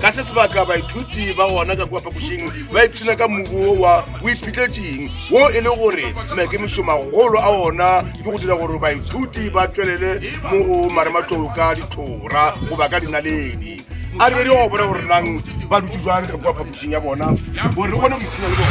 ka se sebaka baithuti ba gona ka kua phapošing ba ipshina ka mmubo wa boiphitletseng wo e le gore maikemišo magolo a ona ke go dira gore baithuti ba tšwelele mo go marematlou ka ditlhora goba ka dinaledi a re go bona gore nang ba dutse jwang ka kua phapošing ya bona gore re kgone go ipshina le bona